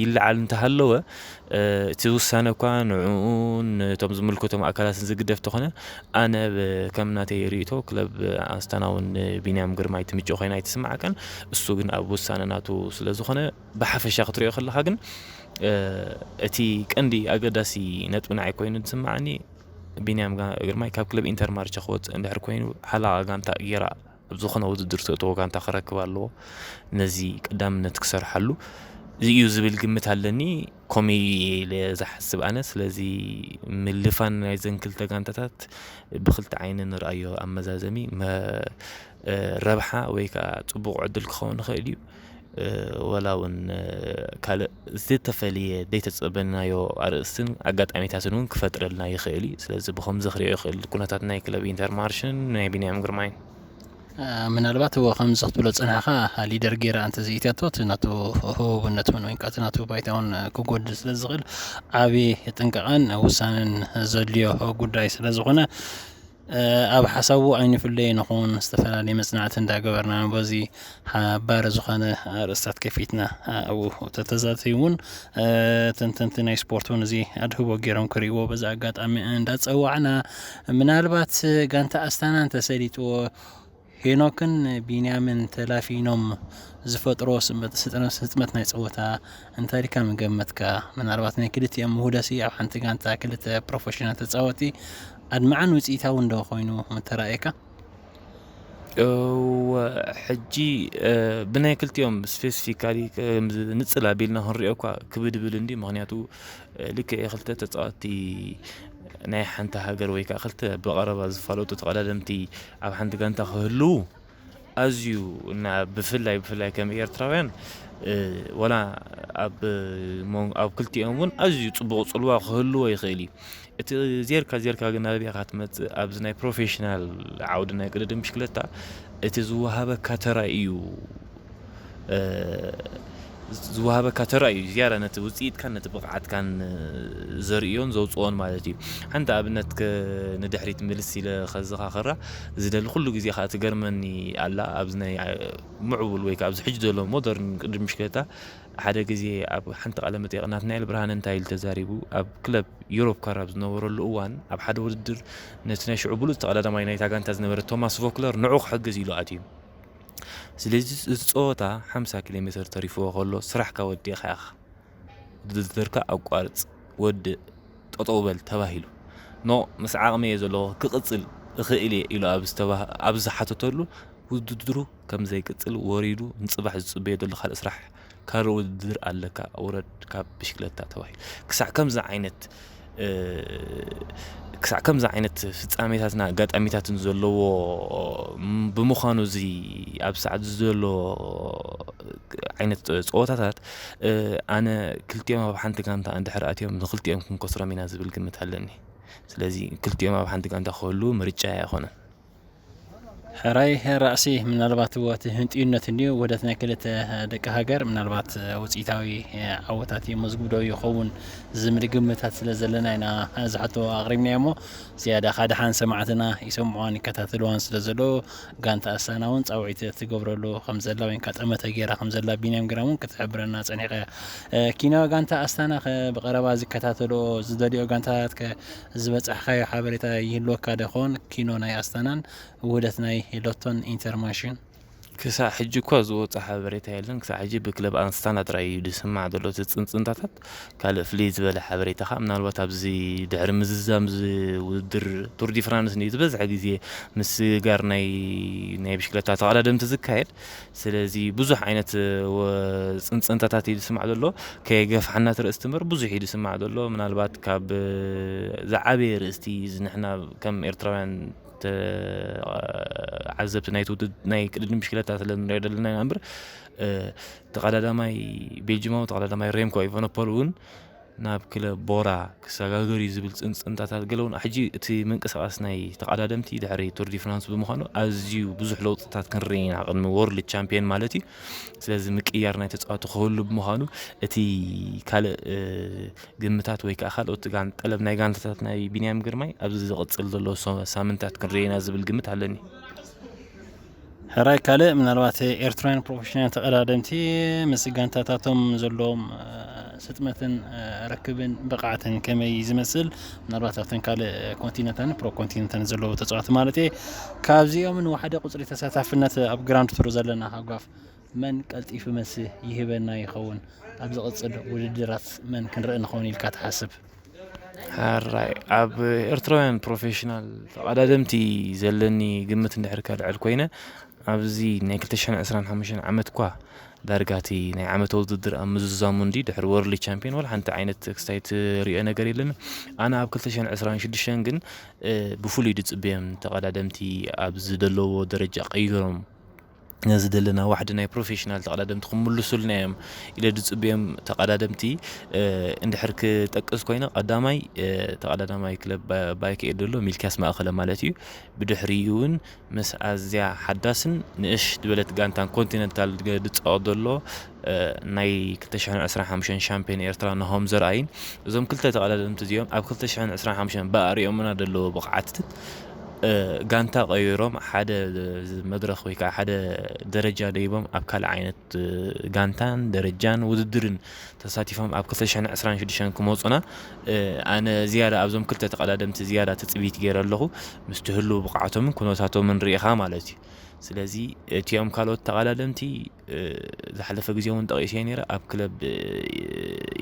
ይለዓል እንተሃለወ እቲ ውሳነ እኳ ንዕኡን ነቶም ዝምልከቶም ኣካላትን ዝግደፍ ተኾነ ኣነ ከም ናተይ ርእይቶ ክለብ ኣስታናውን ንቢንያም ግርማይ ትምጮ ኮይና ኣይትስማዓካን እሱ ግን ኣብ ውሳነ ናቱ ስለ ዝኾነ ብሓፈሻ ክትሪኦ ከለኻ ግን እቲ ቀንዲ ኣገዳሲ ነጥቢ ንዓይ ኮይኑ ዝስማዓኒ ቢንያም ግርማይ ካብ ክለብ ኢንተር ማርቸ ክወፅእ እንድሕር ኮይኑ ሓላቓ ጋንታ ጌራ ኣብ ዝኾነ ውድድር ተእተዎ ጋንታ ክረክብ ኣለዎ ነዚ ቀዳምነት ክሰርሓሉ እዩ ዝብል ግምት ኣለኒ ኮመይ ኢለ ዝሓስብ ኣነ ስለዚ ምልፋን ናይዘን ክልተ ጋንታታት ብክልተ ዓይኒ ንርኣዮ ኣብ መዛዘሚ ረብሓ ወይ ከዓ ፅቡቕ ዕድል ክኸውን ይኽእል እዩ ወላ እውን ካልእ ዝተፈልየ ዘይተጸበናዮ ኣርእስትን ኣጋጣሚታትን እውን ክፈጥረልና ይኽእል እዩ ስለዚ ብከምዚ ክሪኦ ይኽእል ኩነታት ናይ ክለብ ኢንተርማርሽን ናይ ቢንያም ግርማይ ምናልባት እዎ ከምዚ ክትብሎ ዝጸናሕካ ሊደር ጌራ እንተዘይእትያቶ እቲ ናቱ ህቡብነት እውን ወይ ከዓ እቲ ናቱ ባይታ እውን ክጎድል ስለ ዝኽእል ዓቢ ጥንቃቐን ውሳነን ዘድልዮ ጉዳይ ስለ ዝኾነ ኣብ ሓሳቡ ኣይንፍለይ ንኹን ዝተፈላለየ መጽናዕቲ እንዳገበርና በዚ ሓባሪ ዝኾነ ኣርእስታት ከፊትና ኣብኡ ተተዛተዩ እውን ተንተንቲ ናይ ስፖርት እውን እዚ ኣድህቦ ገይሮም ክርእይዎ በዚ ኣጋጣሚ እንዳጸዋዕና ምናልባት ጋንታ ኣስታና እንተሰሊጥዎ ሄኖክን ቢንያምን ተላፊኖም ዝፈጥርዎ ስጥመት ናይ ጸወታ እንታሊካ ምገመትካ? ምናልባት ናይ ክልቲኦም ምሁደሲ ኣብ ሓንቲ ጋንታ ክልተ ፕሮፈሽናል ተጻወቲ ኣድማዕን ውጽኢታውን ዶ ኮይኑ ምተራእየካ? እወ ሕጂ ብናይ ክልቲኦም ስፔሲፊካሊ ንጽል ኣቢልና ክንሪኦ እኳ ክብድብል እንድዩ ምክንያቱ ልክዕ ክልተ ተጻወትቲ ናይ ሓንቲ ሃገር ወይ ከዓ ክልተ ብቐረባ ዝፋለጡ ተቐዳደምቲ ኣብ ሓንቲ ጋንታ ክህልዉ ኣዝዩ እና ብፍላይ ብፍላይ ከም ኤርትራውያን ወላ ኣብ ኣብ ክልቲኦም እውን ኣዝዩ ፅቡቕ ፅልዋ ክህልዎ ይኽእል እዩ እቲ ዜርካ ዜርካ ግን ናበይ ኢኻ ትመፅእ ኣብዚ ናይ ፕሮፌሽናል ዓውዲ ናይ ቅድድም ብሽክለታ እቲ ዝወሃበካ ተራ እዩ ዝወሃበካ ተራ እዩ ዝያዳ ነቲ ውጽኢትካን ነቲ ብቕዓትካን ዘርእዮን ዘውጽኦን ማለት እዩ። ሓንቲ ኣብነት ንድሕሪት ምልስ ኢለ ከዘኻኽራ ዝደሊ ኩሉ ግዜ ከኣ ትገርመኒ ኣላ ኣብዚ ናይ ምዕቡል ወይ ከኣ ኣብዚ ሕጂ ዘሎ ሞደርን ቅድድም ብሽክለታ ሓደ ግዜ ኣብ ሓንቲ ቃለ መጠይቕ ናትናኤል ብርሃነ እንታይ ኢሉ ተዛሪቡ ኣብ ክለብ ዩሮፕ ካር ኣብ ዝነበረሉ እዋን ኣብ ሓደ ውድድር ነቲ ናይ ሽዑ ብሉጽ ተቐዳዳማይ ናይታ ጋንታ ዝነበረ ቶማስ ቮክለር ንዑ ክሕግዝ ኢሉ ኣትዩ ስለዚ እዚ ጸወታ ሓምሳ ኪሎ ሜተር ተሪፍዎ ከሎ ስራሕካ ወዲእኻ ኢኻ ውድድርካ ኣቋርጽ ወድእ ጠጠው በል ተባሂሉ ኖ ምስ ዓቕመይ እየ ዘለኹ ክቕጽል እኽእል እየ ኢሉ ኣብ ዝሓተተሉ ውድድሩ ከም ዘይቅጽል ወሪዱ ንጽባሕ ዝጽበዮ ዘሎ ካልእ ስራሕ ካልእ ውድድር ኣለካ ውረድ ካብ ብሽክለታ ተባሂሉ ክሳዕ ከምዚ ዓይነት ክሳዕ ከምዚ ዓይነት ፍጻሜታትና ኣጋጣሚታትን ዘለዎ ብምዃኑ እዚ ኣብ ሰዓት ዘሎ ዓይነት ፀወታታት ኣነ ክልቲኦም ኣብ ሓንቲ ጋንታ እንድሕር ኣትዮም ንክልቲኦም ክንከስሮም ኢና ዝብል ግምት ኣለኒ ስለዚ ክልቲኦም ኣብ ሓንቲ ጋንታ ክህልዉ ምርጫይ ኣይኮነን። ሕራይ ራእሲ ምናልባት ወቲ ህንጥዩነት እንዲዩ ወደት ናይ ክልተ ደቂ ሃገር ምናልባት ውፅኢታዊ ዓወታት እዩ መዝጉብዶ ይኸውን ዝምል ግምታት ስለ ዘለና ኢና ዝሓቶ ኣቕሪብና እሞ ዝያዳ ካድሓን ሰማዕትና ይሰምዑዋን ይከታተልዋን ስለ ዘሎ ጋንታ ኣሳና እውን ፃውዒት ትገብረሉ ከም ዘላ ወይ ከዓ ጠመተ ገይራ ከም ዘላ ቢንያም ግራ እውን ክትሕብረና ፀኒቀ ኪናዊ ጋንታ ኣስታና ብቀረባ ዝከታተልኦ ዝደልኦ ጋንታታት ዝበጻሕካዮ ሓበሬታ ይህልወካ ዶ ይኸውን? ኪኖ ናይ ኣስታናን ውህደት ናይ ሎቶን ኢንተርማንሽን። ክሳዕ ሕጂ እኳ ዝወጸ ሓበሬታ የለን። ክሳዕ ሕጂ ብክለብ ኣንስታና ጥራይ እዩ ዝስማዕ ዘሎ እቲ ጽንጽንታታት። ካልእ ፍልይ ዝበለ ሓበሬታ ከኣ ምናልባት ኣብዚ ድሕሪ ምዝዛም እዚ ውድድር ቱር ዲ ፍራንስ ንዩ ዝበዝሐ ግዜ ምስግጋር ናይ ናይ ብሽክለታ ተቐዳደምቲ ዝካየድ። ስለዚ ብዙሕ ዓይነት ጽንጽንታታት እዩ ዝስማዕ ዘሎ ከየገፋሕና እቲ ርእስቲ እምበር ብዙሕ እዩ ዝስማዕ ዘሎ ምናልባት ካብ ዝዓበየ ርእስቲ ንሕና ከም ኤርትራውያን ዓዘብቲ ናይ ውድድ ናይ ቅድድም ብሽክለታ ስለ ንሪኦ ዘለና ኢና እምበር ተቐዳዳማይ ቤልጅማዊ ተቐዳዳማይ ሬምኮ ኢቨነፖል እውን ናብ ክለብ ቦራ ክሰጋገር እዩ ዝብል ጽንጽንታታት ገለውና። ሕጂ እቲ ምንቅስቓስ ናይ ተቐዳደምቲ ድሕሪ ቱር ዲ ፍራንስ ብምዃኑ ኣዝዩ ብዙሕ ለውጥታት ክንርኢ ኢና፣ ቅድሚ ዎርልድ ቻምፕዮን ማለት እዩ። ስለዚ ምቅይያር ናይ ተጻወቲ ክህሉ ብምዃኑ እቲ ካልእ ግምታት ወይ ከኣ ካልኦት ጠለብ ናይ ጋንታታት ናይ ቢንያም ግርማይ ኣብዚ ዝቕጽል ዘሎ ሳምንታት ክንርኢ ኢና ዝብል ግምት ኣለኒ። ሕራይ ካልእ ምናልባት ኤርትራውያን ፕሮፌሽናል ተቐዳደምቲ ምስ ጋንታታቶም ዘለዎም ስጥመትን ርክብን ብቕዓትን ከመይ ዝመስል ምናልባት ኣብተን ካልእ ኮንቲነታን ፕሮ ኮንቲነታን ዘለዉ ተፃዋቲ ማለት እየ ካብዚኦም ንዋሓደ ቁፅሪ ተሳታፍነት ኣብ ግራንድ ቱር ዘለና ሃጓፍ መን ቀልጢፉ መልሲ ይህበና ይኸውን ኣብ ዝቕፅል ውድድራት መን ክንርኢ ንኸውን ኢልካ ትሓስብ? ሕራይ ኣብ ኤርትራውያን ፕሮፌሽናል ተቓዳደምቲ ዘለኒ ግምት እንድሕር ከልዕል ኮይነ ኣብዚ ናይ 225 ዓመትኳ ዳርጋቲ ናይ ዓመተ ውድድር ኣብ ምዝዛሙ እንዲ ድሕሪ ወርልድ ቻምፒዮን ወላ ሓንቲ ዓይነት ክስታይ ትሪኦ ነገር የለን ኣነ ኣብ 226 ግን ብፍሉይ ድፅበዮም ተቐዳደምቲ ኣብ ዝደለዎ ደረጃ ቀይሮም ነዚ ዘለና ዋሕዲ ናይ ፕሮፌሽናል ተቐዳደምቲ ክምልሱልና እዮም ኢለ ዝፅበዮም ተቐዳደምቲ እንድሕር ክጠቅስ ኮይነ ቀዳማይ ተቐዳዳማይ ክለብ ባይክ ኤድ ዘሎ ሚልኪያስ ማእኸለ ማለት እዩ ብድሕሪኡ እውን ምስ ኣዝያ ሓዳስን ንእሽ ዝበለት ጋንታን ኮንቲነንታል ዝፃወት ዘሎ ናይ ክልተ ሽሕን ዕስራን ሓሙሽተን ሻምፕዮን ኤርትራ ናሆም ዘርኣይን እዞም ክልተ ተቐዳደምቲ እዚኦም ኣብ ክልተ ሽሕን ዕስራን ሓሙሽተን ብኣርእዮምና ዘለዎ ብቕዓትን ጋንታ ቀይሮም ሓደ መድረኽ ወይ ከዓ ሓደ ደረጃ ደይቦም ኣብ ካልእ ዓይነት ጋንታን ደረጃን ውድድርን ተሳቲፎም ኣብ ክልተ ሽሕን ዕስራን ሽዱሽተን ክመፁና ኣነ ዝያዳ ኣብዞም ክልተ ተቐዳደምቲ ዝያዳ ትፅቢት ገይረ ኣለኹ ምስቲ ህልው ብቕዓቶምን ኩነታቶምን ርኢኻ ማለት እዩ ስለዚ እቲኦም ካልኦት ተቐዳደምቲ ዝሓለፈ ግዜ እውን ጠቒሰ ነይረ ኣብ ክለብ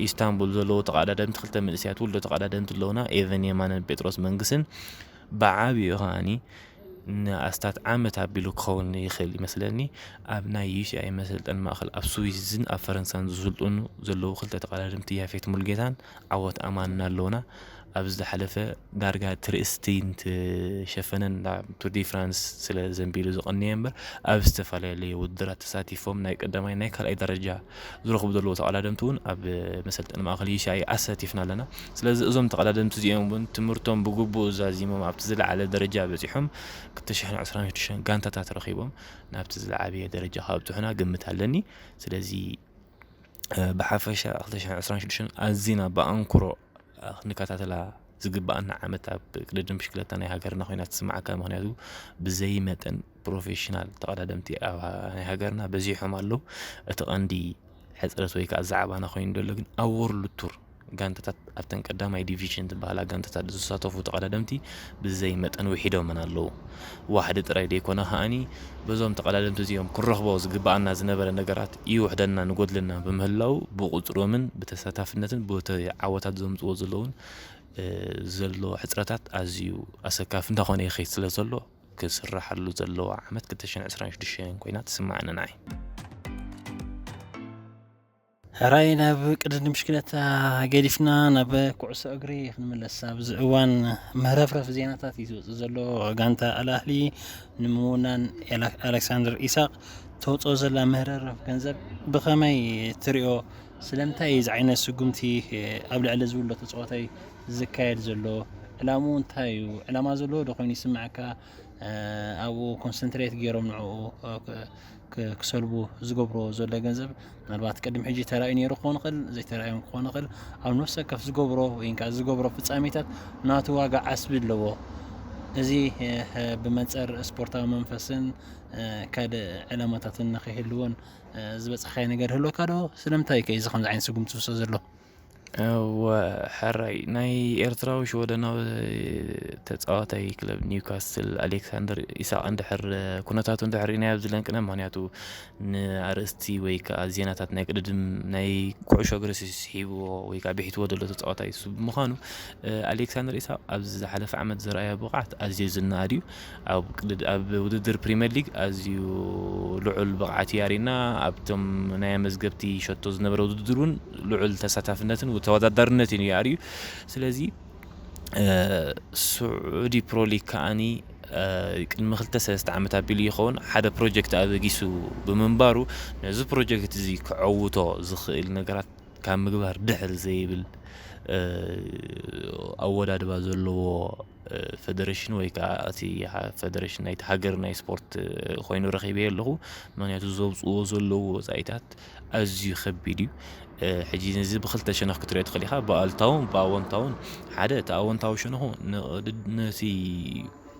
ኢስታንቡል ዘለዉ ተቐዳደምቲ ክልተ መንእሰያት ውልዶ ተቐዳደምቲ ኣለዉና ኤቨን የማነን ጴጥሮስ መንግስን ብዓብኡ ከዓኒ ንኣስታት ዓመት ኣቢሉ ክኸውን ይኽእል ይመስለኒ ኣብ ናይ ዩሲኣይ መሰልጠን ማእኸል ኣብ ስዊዝን ኣብ ፈረንሳን ዝስልጥኑ ዘለዉ ክልተ ተቐዳድምቲ ያፌት ሙልጌታን ዓወት ኣማና ኣሎና ኣብ ዝሓለፈ ዳርጋ እቲ ርእስቲንት ሸፈነን ናብ ቱር ዲ ፍራንስ ስለ ዘንቢሉ ዝቐነየ እምበር ኣብ ዝተፈላለዩ ውድድራት ተሳቲፎም ናይ ቀዳማይ ናይ ካልኣይ ደረጃ ዝረኽቡ ዘለዎ ተቐዳደምቲ እውን ኣብ መሰልጠኒ ማእኸል ይሻይ ኣሳቲፍና ኣለና ስለዚ እዞም ተቐዳደምቲ እዚኦም እውን ትምህርቶም ብግቡእ ዛዚሞም ኣብቲ ዝለዓለ ደረጃ በፂሖም ክልተ ሽሕን ዕስራን ሽዱሽተን ጋንታታት ረኺቦም ናብቲ ዝለዓበየ ደረጃ ካብፅሑና ግምት ኣለኒ ስለዚ ብሓፈሻ ክልተ ሽሕን ዕስራን ሽዱሽተን ኣዚና ብኣንክሮ ክንከታተላ ዝግበኣና ዓመት ኣብ ቅድድም ብሽክለታ ናይ ሃገርና ኮይና ትስምዓካ ምክንያቱ ብዘይ መጠን ፕሮፌሽናል ተቐዳደምቲ ኣብ ናይ ሃገርና በዚሖም ኣለዉ እቲ ቐንዲ ሕጽረት ወይ ከኣ ዛዕባና ኮይኑ ደሎ ግን ኣብ ዎርልድ ቱር ጋንታታት ኣብተን ቀዳማይ ዲቪዥን ዝበሃላ ጋንታታት ዝሳተፉ ተቐዳደምቲ ብዘይ መጠን ውሒዶመን ኣለዉ። ዋሕዲ ጥራይ ደይኮነ ከኣኒ በዞም ተቐዳደምቲ እዚኦም ክንረኽቦ ዝግበኣና ዝነበረ ነገራት ይውሕደናን ይጎድለናን ብምህላዉ ብቑጽሮምን ብተሳታፍነትን ብቲ ዓወታት ዘምጽዎ ዘለዉን ዘሎ ሕጽረታት ኣዝዩ ኣሰካፊ እንዳኾነ ይኸይድ ስለ ዘሎ ክስራሓሉ ዘለዋ ዓመት 2026 ኮይና ትስመዓኒ ንዓይ። ሕራይ ናብ ቅድድም ብሽክለታ ገዲፍና ናብ ኩዕሶ እግሪ ክንምለስ ኣብዚ እዋን ምህረፍረፍ ዜናታት እዩ ዝወፅእ ዘሎ ጋንታ ኣልኣህሊ ንምውናን ኣሌክሳንደር ኢሳቅ ተውፅኦ ዘላ ምህረፍረፍ ገንዘብ ብኸመይ ትሪኦ ስለምንታይ እዚ ዓይነት ስጉምቲ ኣብ ልዕሊ ዝብሎ ተፃዋታይ ዝካየድ ዘሎ ዕላምኡ እንታይ እዩ ዕላማ ዘለዎ ዶ ኮይኑ ይስምዐካ ኣብኡ ኮንሰንትሬት ገይሮም ንዕኡ ክሰልቡ ዝገብርዎ ዘሎ ገንዘብ ምናልባት ቅድሚ ሕጂ ተራእዩ ነይሩ ክኾን ይኽእል ዘይተራእዮም ክኾን ይኽእል ኣብ ነፍሲ ወከፍ ዝገብሮ ወይ ከዓ ዝገብሮ ፍጻሜታት ናቱ ዋጋ ዓስቢ ኣለዎ እዚ ብመንፅር ስፖርታዊ መንፈስን ካልእ ዕላማታትን ንኸይህልዎን ዝበፅሓዮ ነገር ይህልወካ ዶ? ስለምንታይ ከ እዚ ከምዚ ዓይነት ስጉምቲ ዝውሰድ ዘሎ? እወ ሕራይ ናይ ኤርትራዊ ሽወደናዊ ተጻዋታይ ክለብ ኒውካስትል ኣሌክሳንደር ኢሳቅ እንድሕር ኩነታቱ እንድሕር ርኢናዮ ኣብዚ ለንቅነ ምክንያቱ ንኣርእስቲ ወይ ከዓ ዜናታት ናይ ቅድድም ናይ ኩዕሾ እግሪ ስሒብዎ ወይ ከዓ ብሒትዎ ዘሎ ተጻዋታይ እሱ ብምዃኑ ኣሌክሳንደር ኢሳቅ ኣብዚ ዝሓለፈ ዓመት ዘርኣዮ ብቅዓት ኣዝዩ ዝነኣድ እዩ። ኣብ ውድድር ፕሪመር ሊግ ኣዝዩ ልዑል ብቕዓት እዩ ኣሪእና። ኣብቶም ናይ ኣመዝገብቲ ሸቶ ዝነበረ ውድድር እውን ልዑል ተሳታፍነትን ተወዳዳርነትን እዩ ኣርዩ። ስለዚ ስዑዲ ፕሮ ሊግ ከዓኒ ቅድሚ ክልተ ሰለስተ ዓመት ኣቢሉ ይኸውን ሓደ ፕሮጀክት ኣበጊሱ ብምንባሩ ነዚ ፕሮጀክት እዚ ከዐውቶ ዝኽእል ነገራት ካብ ምግባር ድሕር ዘይብል ኣወዳድባ ዘለዎ ፈደረሽን ወይ ከዓ እቲ ፈደረሽን ናይቲ ሃገር ናይ ስፖርት ኮይኑ ረኺበዮ ኣለኹ ምክንያቱ ዘውፅዎ ዘለዎ ወፃኢታት ኣዝዩ ከቢድ እዩ ሕጂ እዚ ብክልተ ሸነኽ ክትሪኦ ትኽእል ኢኻ ብኣልታውን ብኣወንታውን ሓደ እቲ ኣወንታዊ ሸነኹ ነቲ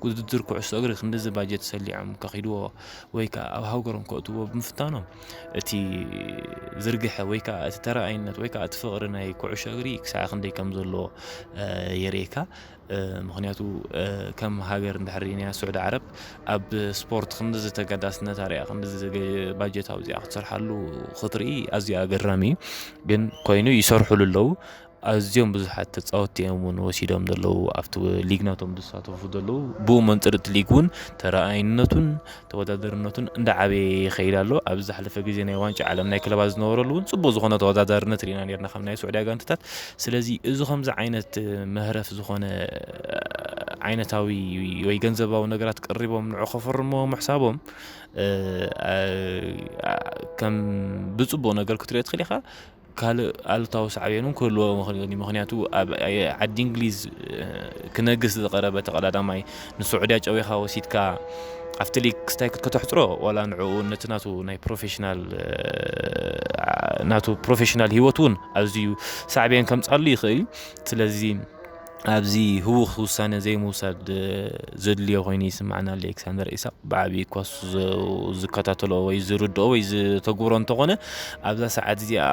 ውድድር ኩዕሶ እግሪ ክንዲዚ ባጀት ሰሊዖም ከኺድዎ ወይ ከዓ ኣብ ሃገሮም ከእትዎ ብምፍታኖም እቲ ዝርግሐ ወይ ከዓ እቲ ተረኣይነት ወይ ከዓ እቲ ፍቕሪ ናይ ኩዕሾ እግሪ ክሳዕ ክንደይ ከም ዘለዎ የርእየካ ምኽንያቱ ከም ሃገር እንድሕር ሪእናያ ስዑዲ ዓረብ ኣብ ስፖርት ክንድዚ ተገዳስነት ኣርያ ክንድዚ ባጀት ኣውዚኣ ክትሰርሓሉ ክትርኢ ኣዝዩ ኣገራሚ እዩ ግን ኮይኑ ይሰርሑሉ ኣለዉ ኣዝዮም ብዙሓት ተፃወቲ እዮም እውን ወሲዶም ዘለዉ ኣብቲ ሊግ ናቶም ዝሳተፉ ዘለዉ ብኡ መንፅር እቲ ሊግ እውን ተረኣይነቱን ተወዳደርነቱን እንዳዓበየ ይኸይድ ኣሎ። ኣብዚ ዝሓለፈ ግዜ ናይ ዋንጫ ዓለም ናይ ክለባት ዝነበረሉ እውን ጽቡቅ ዝኾነ ተወዳዳርነት ርኢና ኔርና ካብ ናይ ሱዕድያ ጋንትታት። ስለዚ እዚ ከምዚ ዓይነት መህረፍ ዝኾነ ዓይነታዊ ወይ ገንዘባዊ ነገራት ቀሪቦም ንዑ ከፈርምዎ ምሕሳቦም ከም ብጽቡቅ ነገር ክትሪኦ ትኽእል ኢኻ። ካልእ ኣሉታዊ ሳዕቤን እውን ክህልዎ ይኽእል እዩ። ምኽንያቱ ኣብ ዓዲ እንግሊዝ ክነግስ ዝቐረበ ተቐዳዳማይ ንስዑድያ ጨዊኻ ወሲድካ ኣብቲ ሊግ ክስታይ ከተሕፅሮ ዋላ ንዕኡ ነቲ ናቱ ናይ ፕሮፌሽናል ናቱ ፕሮፌሽናል ሂወት እውን ኣዝዩ ሳዕቤን ከምፅኣሉ ይኽእል እዩ። ስለዚ ኣብዚ ህዉኽ ውሳነ ዘይምውሳድ ዘድልዮ ኮይኑ ይስምዓና ኣሎ ኤክሳንደር ኢሳቕ ብዓብዪ እኳ ዝከታተሎ ወይ ዝርድኦ ወይ ዝተግብሮ እንተኾነ ኣብዛ ሰዓት እዚኣ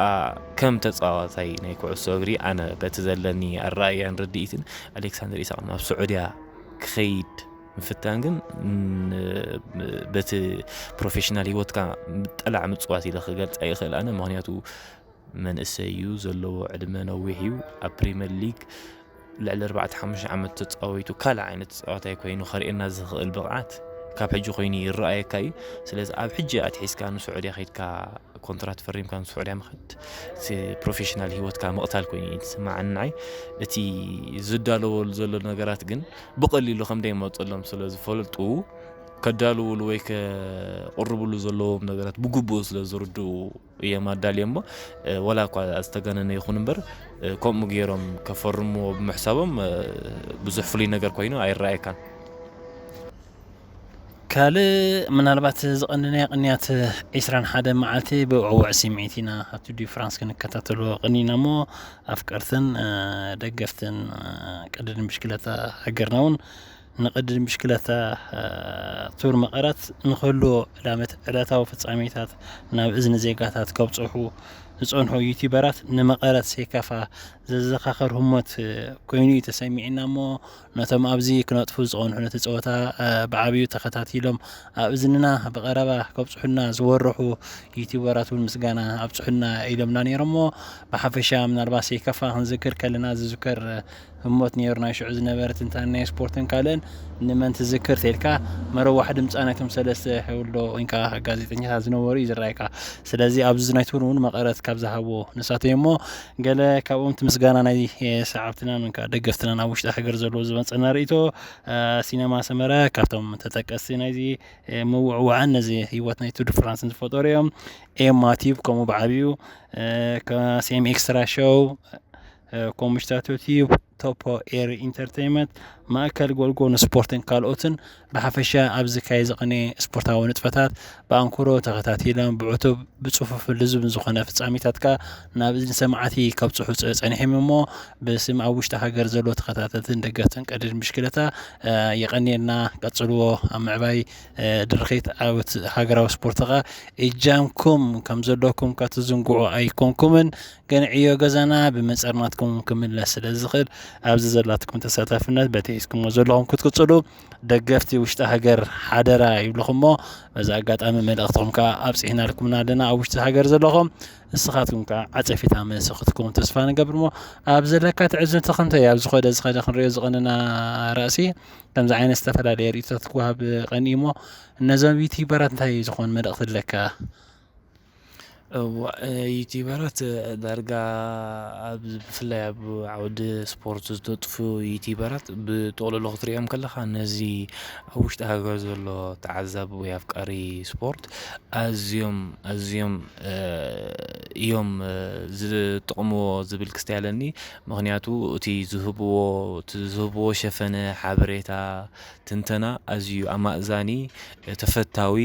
ከም ተፃዋታይ ናይ ኩዕሶ እግሪ ኣነ በቲ ዘለኒ ኣረኣእያን ርድኢትን ኣሌክሳንደር ኢሳቕ ናብ ስዑድያ ክኸይድ ምፍታን ግን በቲ ፕሮፌሽናል ሂወትካ ጠላዕ ምፅዋት ኢለ ክገልፃ ይኽእል ኣነ ምክንያቱ መንእሰይ እዩ፣ ዘለዎ ዕድመ ነዊሕ እዩ፣ ኣብ ፕሪመር ሊግ ልዕሊ ኣርባዕተ ሓሙሽተ ዓመት ተፃዊቱ ካልእ ዓይነት ተፃዋታይ ኮይኑ ከርእየና ዝኽእል ብቕዓት ካብ ሕጂ ኮይኑ ይረኣየካ እዩ ስለዚ ኣብ ሕጂ ኣትሒዝካ ንስዑድያ ከድካ ኮንትራት ፈሪምካ ንስዑድያ ምኸድ እቲ ፕሮፌሽናል ሂወትካ ምቕታል ኮይኑ እዩ ዝስማዓኒ ንዓይ እቲ ዝዳለወሉ ዘሎ ነገራት ግን ብቐሊሉ ከም ደይመፀሎም ስለ ዝፈልጡ ከዳልውሉ ወይ ከቕርብሉ ዘለዎም ነገራት ብግቡእ ስለ ዝርድኡ እዮም ኣዳልዮምዎ ወላ እኳ ዝተጋነነ ይኹን እምበር ከምኡ ገይሮም ከፈርምዎ ብምሕሳቦም ብዙሕ ፍሉይ ነገር ኮይኑ ኣይረኣየካን። ካልእ ምናልባት ዝቐንናዮ ቅንያት ዒስራን ሓደ መዓልቲ ብዕውዕ ስምዒት ኢና ኣብቲ ዲዩ ፍራንስ ክንከታተሎ ቅኒና እሞ ኣፍቀርትን ደገፍትን ቅድድም ብሽክለታ ሃገርና እውን ንቅድድም ብሽክለታ ቱር መቐረት ንክህልዎ ዕላመት ዕለታዊ ፍጻሜታት ናብ እዝኒ ዜጋታት ከብጽሑ ዝጸንሑ ዩቲበራት ንመቐረት ሴካፋ ዘዘኻኸር ህሞት ኮይኑ እዩ ተሰሚዕና እሞ ነቶም ኣብዚ ክነጥፉ ዝቐንሑ ነቲ ጸወታ ብዓብዩ ተኸታቲሎም ኣብ እዝንና ብቐረባ ከብጽሑና ዝወረሑ ዩቲበራት እውን ምስጋና ኣብጽሑና ኢሎምና ነይሮሞ ብሓፈሻ ምናልባት ሴካፋ ክንዝክር ከለና ዝዝከር ህሞት ኔሩ ናይ ሽዑ ዝነበረ ትንታነ ናይ ስፖርትን ካልእን ንመን ትዝክር ተልካ መረዋሕ ድምጻ ናይቶም ሰለስተ ሕውሎ ወይንካ ጋዜጠኛታት ዝነበሩ እዩ ዝረኣይካ ስለዚ ኣብዚ ናይ ትብሉ እውን መቐረት ካብ ዝሃብዎ ንሳቶ እሞ ገለ ካብኦም እቲ ምስጋና ናይ ሰዓብትናን ወይንካ ደገፍትናን ኣብ ውሽጢ ሃገር ዘለዎ ዝመፀና ርእይቶ ሲነማ ሰመረ ካብቶም ተጠቀስቲ ናይዚ ምውዕዋዕን ነዚ ህይወት ናይ ቱድ ፍራንስን ዝፈጠሩ እዮም ኤማ ቲብ ከምኡ ብዓብዩ ከሴም ኤክስትራ ሾው ኮምሽታቶ ቲዩብ፣ ቶፖ ኤሪ ኢንተርተይመት፣ ማእከል ጎልጎ ንስፖርትን ካልኦትን ብሓፈሻ ኣብ ዝካየ ዝቕንየ ስፖርታዊ ንጥፈታት ብኣንክሮ ተኸታቲሎም ብዕቱብ ብጽፉፍን ልዙብን ዝኾነ ፍጻሚታት ከኣ ናብ እዝኒ ሰማዕቲ ከብጽሑ ጸኒሒም እሞ ብስም ኣብ ውሽጢ ሃገር ዘሎ ተኸታተልትን ደገፍትን ቀድድን ብሽክለታ የቐንየልና ቀጽልዎ ኣብ ምዕባይ ድርኺት ዓወት ሃገራዊ ስፖርት ከኣ እጃምኩም ከም ዘለኩም ከትዝንግዑ ኣይኮንኩምን ግን ዕዮ ገዛና ብመጸርናትኩም ክምለስ ስለ ዝኽእል ኣብዚ ዘላትኩም ተሳታፍነት በቲ ሒዝኩሞ ዘለኹም ክትቅጽሉ ደገፍቲ ውሽጢ ሃገር ሓደራ ይብልኹሞ በዚ ኣጋጣሚ መልእኽትኹም ከዓ ኣብጽሕናልኩምና ኣለና ኣብ ውሽጢ ሃገር ዘለኹም ንስኻትኩም ከዓ ዓጸፊታ መልሲ ክትኩም ተስፋ ንገብር እሞ ኣብ ዘለካ ትዕዝብቲ ከምተይ ኣብ ዝኸደ ዝኸደ ክንሪኦ ዝቐንና ራእሲ ከምዚ ዓይነት ዝተፈላለየ ርእቶታት ክወሃብ ቀኒ እሞ እነዞም ዩቲበራት እንታይ ዝኾን መልእኽቲ ኣለካ እዋእ ዩቲበራት ዳርጋ ኣብ ብፍላይ ኣብ ዓውዲ ስፖርት ዝተጥፉ ዩቲበራት ብጥቕሉሉ ክትሪኦም ከለኻ ነዚ ኣብ ውሽጢ ሃገር ዘሎ ተዓዛቢ ወይ ኣፍቃሪ ስፖርት ኣዝዮም ኣዝዮም እዮም ዝጥቕምዎ ዝብል ክስተ ኣለኒ ምኽንያቱ እቲ ዝህብዎ እቲ ዝህብዎ ሸፈነ ሓበሬታ ትንተና ኣዝዩ ኣማእዛኒ ተፈታዊ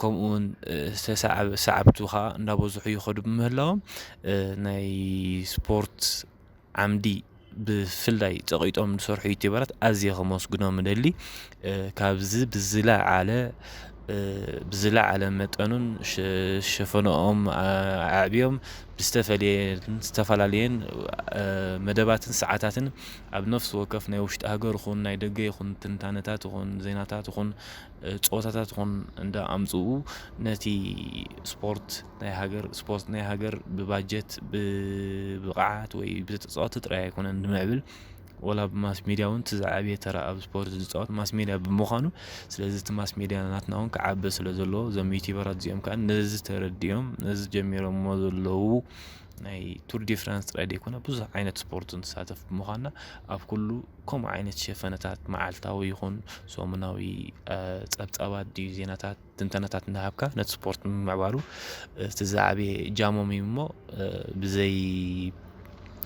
ከምኡውን ሰዓብቱ ከኣ እንዳበዝሑ ይኸዱ ብምህላዎም ናይ ስፖርት ዓምዲ ብፍላይ ጸቒጦም ዝሰርሑ ዩቲበራት ኣዝየ ከመስግኖም እደሊ ካብዚ ብዝለዓለ ብዝለዓለ መጠኑን ሸፈነኦም ኣዕብዮም ብዝተፈለየን ዝተፈላለየን መደባትን ሰዓታትን ኣብ ነፍሲ ወከፍ ናይ ውሽጢ ሃገር ይኹን ናይ ደገ ይኹን ትንታነታት ይኹን ዜናታት ይኹን ጸወታታት ኹን እንዳ ኣምጽኡ ነቲ ስፖርት ናይ ሃገር ስፖርት ናይ ሃገር ብባጀት ብብቕዓት ወይ ብተጻወቲ ጥራይ ኣይኮነን ንምዕብል ወላ ብ ማስ ሜድያ እውን እቲ ዝዓበየ ተራ ኣብ ስፖርት ዝጻወት ማስ ሜድያ ብምዃኑ ስለዚ እቲ ማስ ሜድያ ናትና እውን ክዓቢ ስለ ዘለዎ እዞም ዩቲበራት እዚኦም ከኣ ነዚ ተረዲኦም ነዚ ጀሚሮሞ ዘለዉ ናይ ቱር ዲ ፍራንስ ጥራይ ዘይኮነ ብዙሕ ዓይነት ስፖርት ንሳተፍ ብምዃና ኣብ ኩሉ ከምኡ ዓይነት ሸፈነታት መዓልታዊ ይኹን ሰሙናዊ ጸብጻባት ድዩ ዜናታት ትንተነታት እናሃብካ ነቲ ስፖርት ምምዕባሉ እቲ ዝዓበየ እጃሞም እዩ እሞ ብዘይ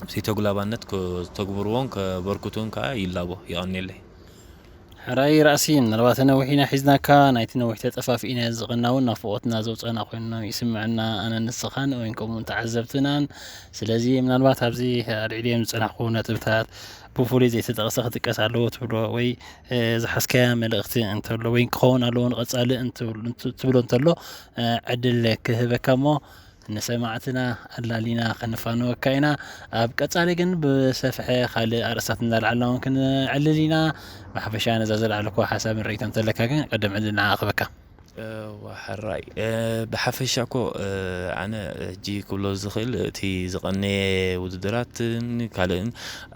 ብዘይ ተጉላባነት ከተግብርዎን ከበርክቱን ከዓ ይላቦ የቐንየለይ ሕራይ ራእሲ ምናልባት ነዊሕ ኢና ሒዝናካ ናይቲ ነዊሕ ተጠፋፊእና ዝቕና እውን ናፍቖትና ዘውፀና ኮይኑ ይስምዐና ኣነ ንስኻን ወይን ከምኡውን ተዓዘብትናን ስለዚ ምናልባት ኣብዚ ኣልዒልዮም ዝፀናሕኩ ነጥብታት ብፍሉይ ዘይተጠቕሰ ክጥቀስ ኣለዎ ትብሎ ወይ ዝሓዝካያ መልእኽቲ እንተሎ ወይ ክኸውን ኣለዎ ንቐፃሊ እንትብሎ እንተሎ ዕድል ክህበካ እሞ ንሰማዕትና ኣላሊና ከነፋንወካ ኢና። ኣብ ቀጻሊ ግን ብሰፍሐ ካልእ ኣርእስታት እንዳልዓልና ውን ክንዕልል ኢና። ብሓፈሻ ነዛ ዘልዓልኩዋ ሓሳብን ርእይቶን እንተለካ ግን ቅድም ዕድል ንዓኣ ክህበካ። እወ ሕራይ ብሓፈሻ እኮ ኣነ ሕጂ ክብሎ ዝኽእል እቲ ዝቐነየ ውድድራትን ካልእን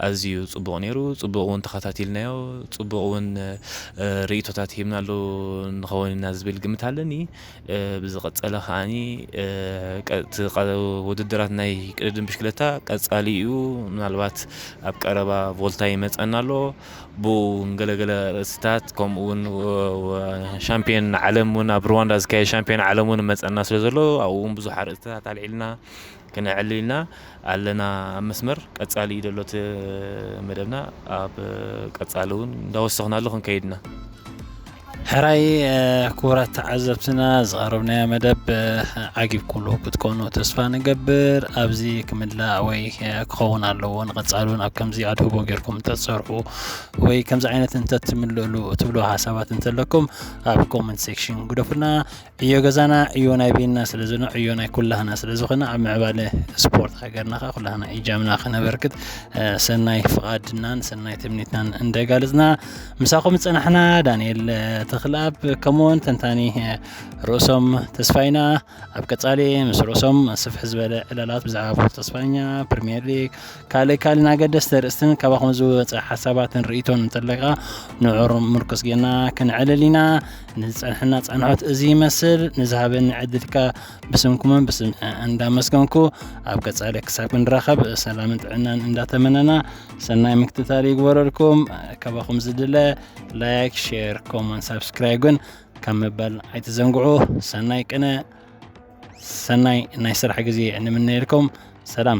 ኣዝዩ ጽቡቕ ነይሩ። ጽቡቕ ውን ተኸታቲልናዮ ጽቡቕ ውን ርእይቶታት ሂብናሉ ንኸውን ኢና ዝብል ግምት ኣለኒ። ብዝቐጸለ ከኣ እቲ ውድድራት ናይ ቅድድም ብሽክለታ ቀጻሊ እዩ። ምናልባት ኣብ ቀረባ ቮልታ ይመጸና ኣሎ ብኡ ገለገለ ርእስታት ከምኡ ውን ሻምፕዮን ዓለም ውን ኣብ ርዋንዳ ዝካየድ ሻምፕዮን ዓለም ውን ይመጸና ስለ ዘሎ ኣብኡ ውን ብዙሕ ኣርእስታት ኣልዒልና ክነዕሊ ኢልና ኣለና ኣብ መስመር ቀጻሊ እዩ ዘሎ እቲ መደብና ኣብ ቀጻሊ እውን እንዳወሰኽናሉ ክንከይድ ኢና። ሕራይ ክቡራት ተዓዘብትና ዝቐረብናዮ መደብ ዓጊብኩሉ ክትኮኑ ተስፋ ንገብር። ኣብዚ ክምላእ ወይ ክኸውን ኣለዎ ንቐጻሉን ኣብ ከምዚ ኣድህቦ ጌርኩም እንተትሰርሑ ወይ ከምዚ ዓይነት እንተትምልእሉ ትብልዎ ሓሳባት እንተለኩም ኣብ ኮመንት ሴክሽን ግደፉልና። ዕዮ ገዛና ዕዮ ናይ ቤንና ስለ ዝነ ዕዮ ናይ ኩላህና ስለ ዝኾነ ኣብ ምዕባለ ስፖርት ሃገርና ከ ኩላህና ኢጃምና ክነበርክት ሰናይ ፍቓድናን ሰናይ ትምኒትናን እንደጋልጽና ምሳኹም ዝጸናሕና ዳንኤል ተኽልኣብ ከምኡውን ተንታኒ ርእሶም ተስፋይና ኣብ ቀጻሊ ምስ ርእሶም ስፍሕ ዝበለ ዕላላት ብዛዕባ ቡር ተስፋኛ ፕሪምየር ሊግ ካልእ ካልእን ኣገደስቲ ርእስትን ካባኹም ዝወፀ ሓሳባትን ርእቶን እንተለካ ንዑር ምርኩስ ጌና ክንዕልል ኢና ንዝፀንሐና ፃንሖት እዚ ይመስል ንዝሃበኒ ዕድል ከ ብስምኩምን ብስም እንዳመስገንኩ ኣብ ቀፃሊ ክሳብ ክንራኸብ ሰላምን ጥዕናን እንዳተመነና ሰናይ ምክትታል ይግበረልኩም ካባኹም ዝድለ ላይክ ሼር ኮመን ሳብስክራይብ ግን ካብ ምባል ኣይትዘንግዑ ሰናይ ቅነ ሰናይ ናይ ስራሕ ግዜ ንምነየልኩም ሰላም